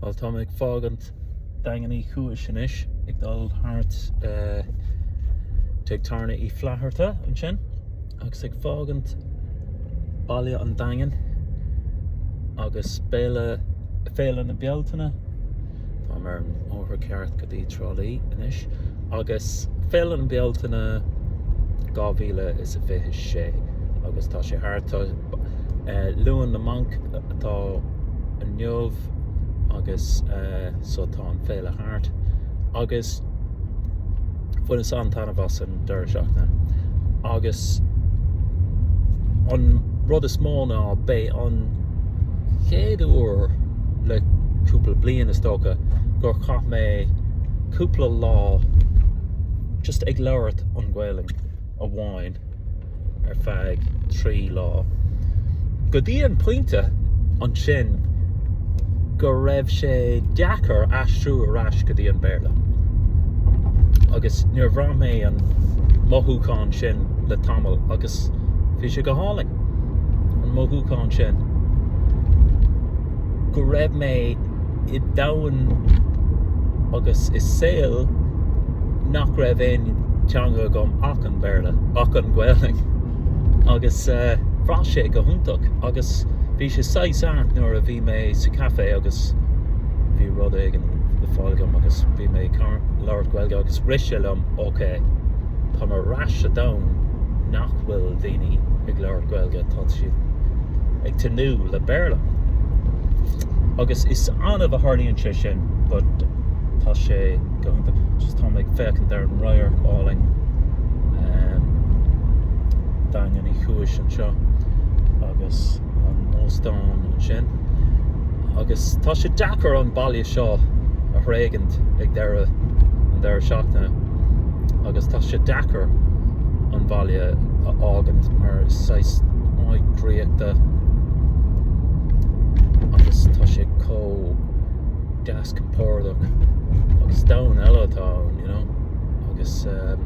Bhuel tá mé ag fágaint Daingean Uí Chúis anois ag dul thart Tigh Tábhairne Uí Fhlatharta ansin agus ag fágaint Baile an Daingin agus Féile na Bealtaine. Táim ar an mbóthar ceart go dtí Trá Lí anois agus féile na Bealtaine 2026 agus tá sé thart. Luan na mBanc atá inniu agus so tá an féile thart agus Bhaineas an-taitneamh as an deireadh seachtaine agus an rud is mó ná b'é an chéad uair le cúpla bliain is dócha gur chaith mé cúpla lá just ag labhairt an Ghaelainn. amháin ar feadh trí lá, go dtí an pointe ansin go raibh sé deacair aistriú ar ais go dtí an Béarla. Agus níor bhraith mé an mothúchán sin le tamall agus bhí sé go hálainn, an mothúchán sin go raibh mé. i domhan agus i saol nach raibh aon teanga agam ach an Béarla, ach an Ghaeilge, agus bhraith sé go hiontach agus bhí sé saghas ait nuair a bhí mé sa café agus bhí rud éigin le fáil agam agus bhí mé ag labhairt Gaeilge agus rith sé liom, ok, tá mé ar ais sa domhan nach bhfuil daoine ag labhairt Gaeilge, tá siad ag tnúth le Béarla. Agus is annamh a tharlaíonn sé sin but tá sé go, just táim ag féachaint ar an radharc álainn Daingean Uí Chúis anseo agus an óstán ansin. Agus tá sé deacair an baile seo a thréigint ag deireadh an deireadh seachtaine agus tá sé deacair an baile a fhágaint mar is saghas áit draíochta, agus tá sé chomh deas compordach agus domhan eile atá ann you know agus ehm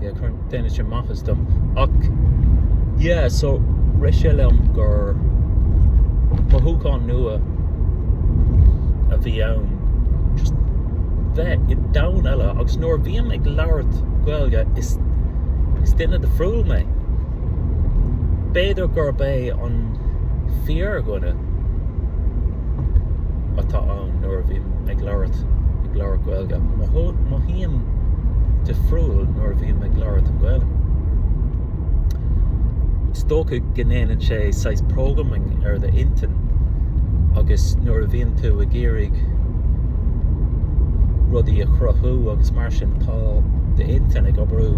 yeah cuireann déanann sé maitheas dom ach yeah so rith sé liom gur mothúchán nua a bhí ann just bheith i domhan eile agus nuair a bhím ag labhairt Gaeilge is duine difriúil mé. B'fhéidir gurb é an fíordhuine atá ann nuair a bhím ag labhairt, ag labhairt Gaeilge. Mothaím difriúil nuair a bhím ag labhairt an Ghaeilge. Is dócha go ndéanann sé saghas programming ar do intinn agus nuair a bhíonn tú ag iarraidh rudaí a chruthú agus mar sin tá do intinn ag oibriú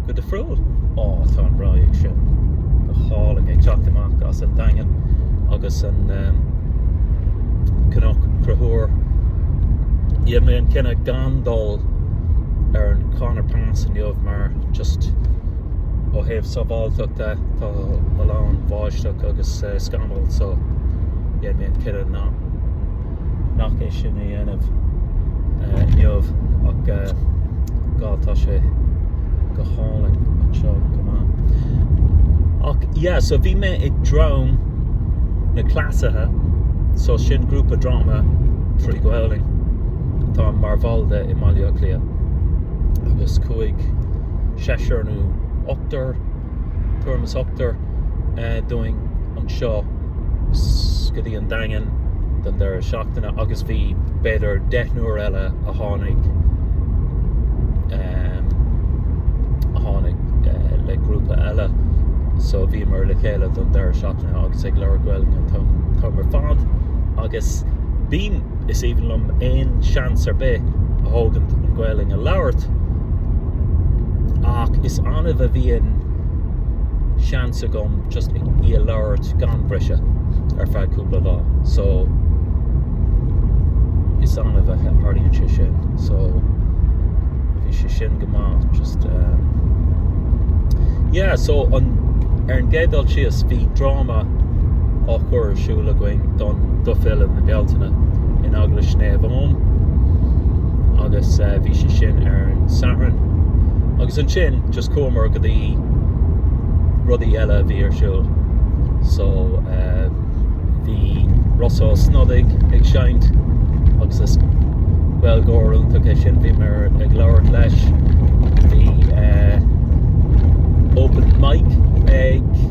go difriúil. Ó tá an radharc sin go hálainn ag teacht amach as an Daingean agus an Cnoc Conchúir. Dhéan mé an cinneadh gan dul ar an Conor Pass inniu mar just ó thaobh sábháilteachta tá a lán bháisteach agus scamall so dhéan mé an cinneadh nach é sin a dhéanamh inniu ach tá sé go hálainn anseo go maith ach yeah so bhí mé ag dráma na gCleasaithe so sin grúpa dráma trí Ghaelainn atá mar bhall de i mBaile Átha Cliath agus chuaigh seachtar nó ochtar tuairim is ochtar dúinn anseo go dtí an Daingean don deireadh seachtaine agus bhí b'fhéidir deichniúr eile a tháinig a tháinig le grúpa eile so bhíomar le chéile don deireadh seachtaine agus ag labhairt Gaeilge an t-am ar fad agus bím Is aoibhinn liom aon seans ar bith a thógaint an Ghaelainn a labhairt ach is annamh a bhíonn seans agam just í a labhairt gan bhriseadh ar feadh cúpla lá so is annamh a tharlaíonn sé sin so bhí sé sin go maith just um, yeah so an ar an gcéad dul síos bhí dráma á chur ar siúl againn don do Fhéile na Bealtaine in Eaglais Naomh Eoin agus bhí sé sin ar an Satharn agus ansin just chuamar go dtí rudaí eile a bhí ar siúl so bhí Rossa Ó Snodaigh ag seinnt agus is b'iontach é sin bhíomar ag labhairt leis bhí open mic ag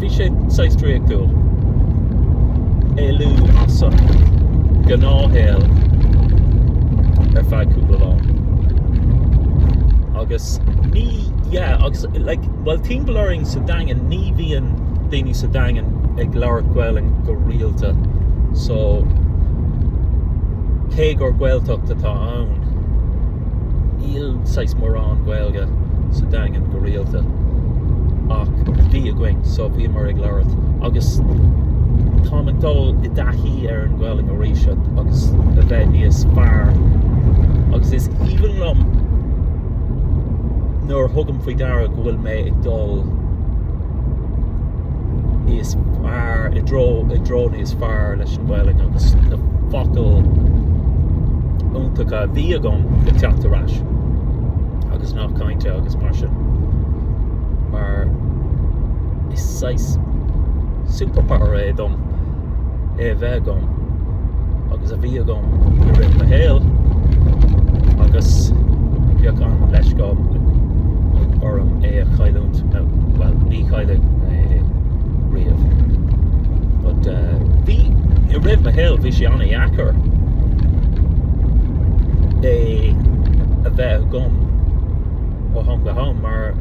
Bhí sé saghas draíochtúil éalú as an gnáthshaol ar feadh cúpla lá. Agus ní, yeah, agus like, bhuel timpeall orainn sa Daingean ní bhíonn daoine sa Daingean ag labhairt Gaelainn go rialta so cé gur Gaeltacht atá ann, níl saghas mórán Gaeilge sa Daingean go rialta ach bhí againn so bhíomar ag labhairt agus táim ag dul i dtaithí ar an Ghaelainn arís agus a bheith níos fearr agus is aoibhinn liom nuair a thugaim faoi deara go bhfuil mé ag dul níos fearr, i dtreo, i dtreo níos fearr leis an Ghaelainn agus na focail iontacha a bhí agam ag teacht ar ais agus nathanna cainte agus mar sin. Mar is saghas superpower é dom. é a bheith agam agus a bhí agam i rith mo shaoil agus bheadh an-leisce orm é a chailliúint, bhuel ní chaillfidh mé é riamh but bhí, i rith mo shaoil bhí sé an-dheacair é a bheith agam ó ham go ham mar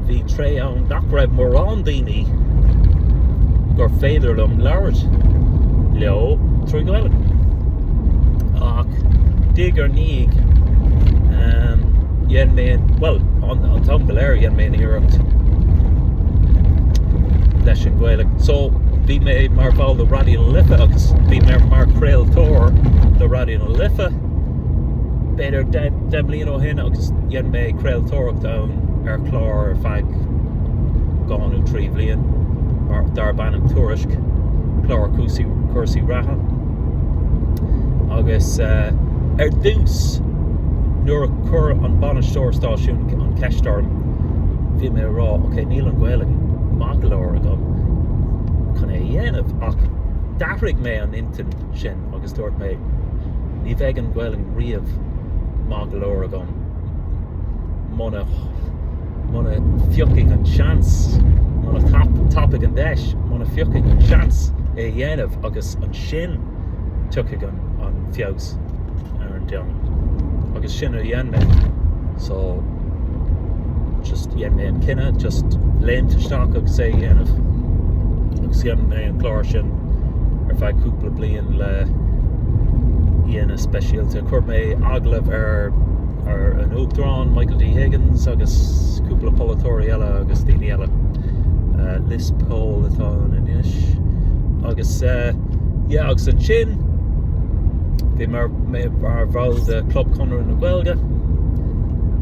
Bhí tréimhse ann nach raibh mórán daoine gur féidir liom labhairt leo trí Ghaelainn. Ach diaidh ar ndiaidh dhein mé, bhuel, an t-am go léir dhein mé an iarracht leis an Ghaeilge. So bhí mé mar bhall de Raidió na Life agus bhí mé mar chraoltóir do Raidió na Life b'fhéidir deich mbliana ó shin agus dhein mé craoltóireacht ann ar chlár ar feadh dhá nó trí bhliain darb ainm Tuairisc, clár cúrsaí reatha agus ar dtús nuair a chuir an bainisteoir stáisiúin an cheist orm bhí mé ag rá ok níl an Ghaelainn maith go leor agam chun é a dhéanamh ach d'athraigh mé an intinn sin agus dúirt mé ní bheidh an Ghaelainn riamh maith go leor agam. muna phiocfaidh an seans, muna tapóidh an deis, muna phiocfaidh an seans é a dhéanamh agus ansin tiocfaidh an feabhas ar an dearmad. Agus sin a dhein mé. So just dhein mé an cinneadh just léimt isteach agus é a dhéanamh. Agus dhein mé an clár sin ar feadh cúpla bliain le daoine speisialta. Chuir mé agallamh ar ar an Uachtarán Michael D Higgins agus cúpla polaiteoirí eile agus daoine eile. Uh, Liz Cole atá ann anois. Agus uh, yeah, agus ansin bhí mé mar bhall de Club Chonradh na Gaeilge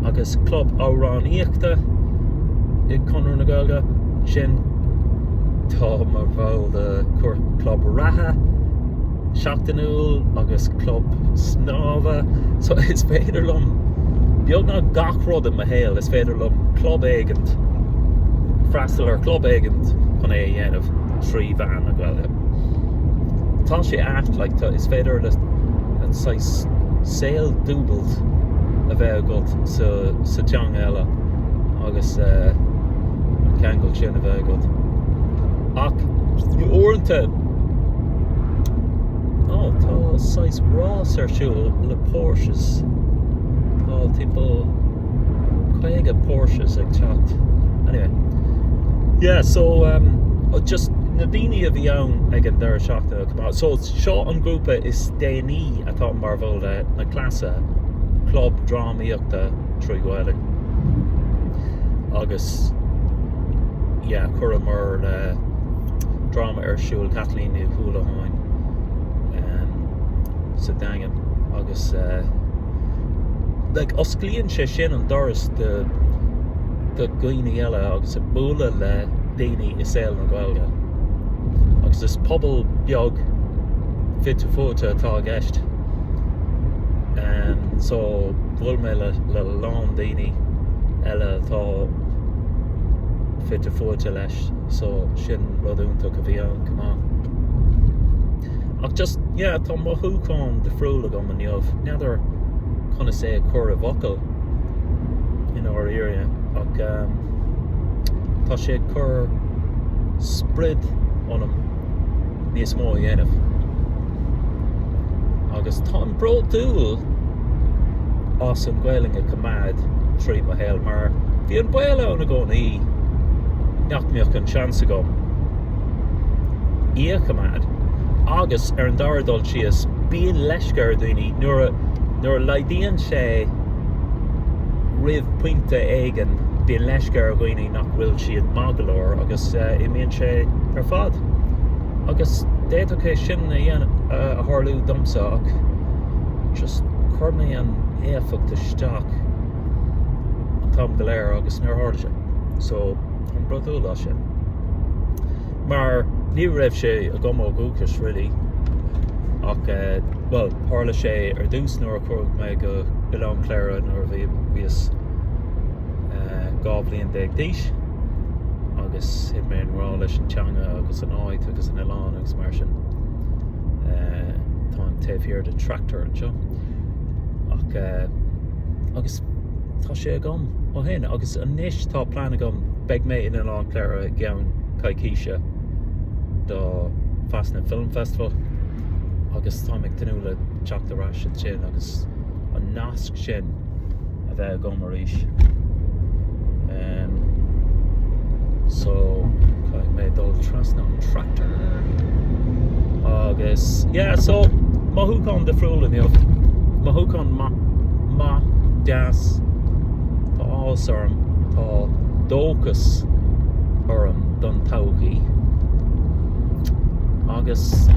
agus club amhráníochta i gConradh na Gaeilge. sin, táim mar bhall de chlub reatha seachtainiúil agus club snámha, so is féidir liom beagnach gach rud i mo shaol, is féidir liom club éigin, freastal ar chlub éigin chun é a dhéanamh trí mheán na Gaeilge. Tá sé ait, like tá, is féidir le an saghas saol dúbailte a bheith agat sa teanga eile. agus an ceangal sin a bheith agat. Ach uaireanta, ó tá saghas rás ar siúl le Porsches. Tá timpeall caoga Porsches ag teacht. Anyway, yeah, so um, oh, just na daoine a bhí ann ag an deireadh seachtaine go maith. So seo an grúpa is déanaí atá mar bhall de na clubanna, club drám aíochta trí Ghaeilge agus yeah chuireamar dráma ar siúl Caitlín Ní Uallacháin sa Daingean agus eh, like, osclaíonn sé sin an doras do do dhaoine eile agus ag bualadh le daoine i saol na Gaeilge agus is pobal beag fite fuaite atá i gceist. um, so bhuail mé le, le lán daoine eile atá fite fuaite leis so sin rud iontach a bhí ann chomh maith ach just yeah tá mothúchán difriúil agam inniu n'fheadar conas é a chur i bhfocail i ndáiríre ach um, tá sé ag cur spreagadh ionam níos mó a dhéanamh. Agus táim bródúil as an nGaelainn a choimeád trí mo shaol mar bhí an baol ann i gcónaí nach mbeadh an seans agam í a choimeád agus ar an dara dul síos bíonn leisce ar dhaoine nuair a nuair a laghdaíonn sé go pointe éigin bíonn leisce ar dhaoine nach bhfuil siad maith go leor agus agus imíonn sé ar fad. Agus d'fhéadfadh é sin a tharlú domsa ach just chuir mé an éifeacht isteach an t-am go léir agus níor tharla sé. So, táim bródúil as sin. Mar ní raibh sé agam ó dhúchas really ach bhuel, tharla sé ar dtús nuair a chuaigh mé go hOileán Chléire nuair a bhíos. 12 bliain d'aois agus thit mé i ngrá leis an teanga agus an áit agus an oileán agus mar sin. Eh, táim taobh thiar den tractor anseo. Ach eh, agus tá sé agam ó shin agus anois tá plean agam beidh mé in Oileán Chléire i gceann coicíse do Fastnet Film Festival agus táim ag tnúth le teacht ar ais ansin agus an nasc sin a bheith agam arís. So caithfidh mé dul trasna ón tractor. Agus yeah, so mothúchán difriúil inniu, mothúchán maith, maith, deas, tá áthas orm, tá dóchas orm don todhchaí. Agus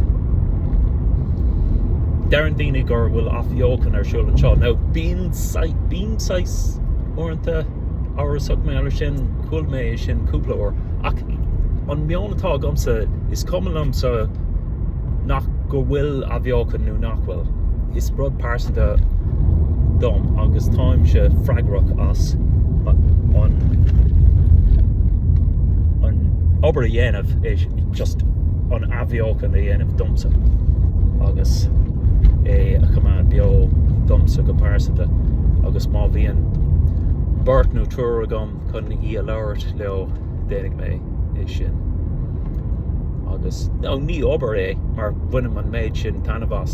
deireann daoine gur bhfuil athbheochan ar siúl anseo. Now bíonn saghas, bím saghas, uaireanta, amhrasach mar sin, chuala mé é sin cúpla uair, ach an meon atá agamsa, is cuma liomsa, nach, go bhfuil athbheochan nó nach bhfuil, is rud pearsanta é dom agus táimse freagrach as an, an obair a dhéanamh, is just an. bheochan a dhéanamh domsa agus é a choimeád beo domsa go pearsanta agus má bhíonn beirt nó triúr agam chun í a labhairt leo, déanfaidh mé é sin. Agus ní obair é mar bhainim an méid sin taitneamh as.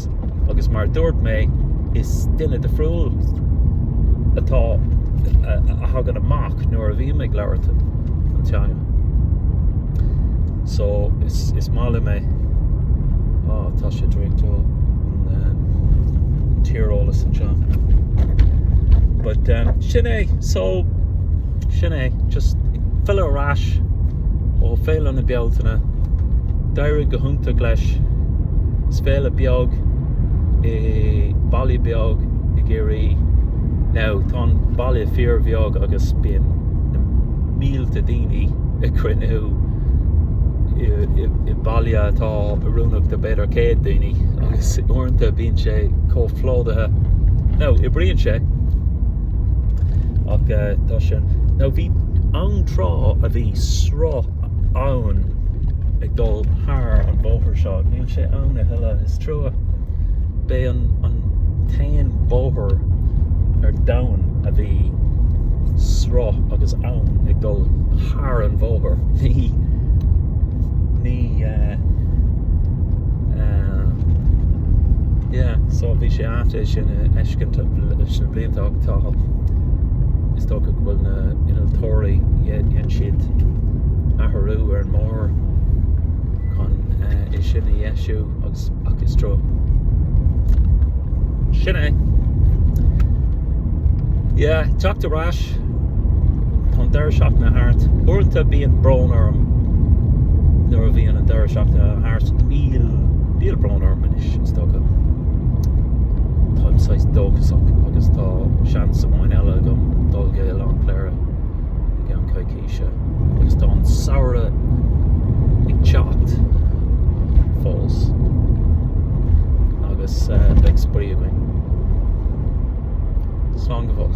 agus mar dúirt mé is duine difriúil atá a thagann amach nuair a bhím ag labhairt an teanga so is is maith liom é á ah, tá sé draíochtúil an tíreolas anseo but um, sin é so sin é just fillte ar ais ó Féile na Bealtaine D'éirigh go hiontach leis is féile beag i mbaile beag i gCiarraí. Now tá an baile fíor bheag agus bíonn na mílte daoine ag cruinniú i baile atá oiriúnach do b'fhéidir 100 daoine agus uaireanta bíonn sé chomh plódaithe. Now oibríonn sé ach tá sin. Now bhí an tráth a bhí sruth abhainn ag dul thar an bóthar seo. Níl sé ann a thuilleadh, is trua. B'é an t-aon bóthar ar domhan a bhí sruth agus abhainn ag dul thar an bóthar. Bhí ní yeah, yeah, so bhí sé Ait é sin a fheiscint leis na blianta ach tá, is dócha go bhfuil na innealtóirí, dhein siad athrú ar an mbóthar chun é sin a dheisiú agus, ach is trua. Sin é. Yeah, teacht ar ais. Tá an deireadh seachtaine thart. Uaireanta bíonn brón orm nuair a bhíonn an deireadh seachtaine thart. Níl, níl brón orm anois, is dócha. Táim saghas dóchasach agus tá seans amháin eile agam dul go Oileán Chléire i gceann coicíse agus tá an samhradh ag teacht fós agus beidh spraoi againn. Slán go fóill.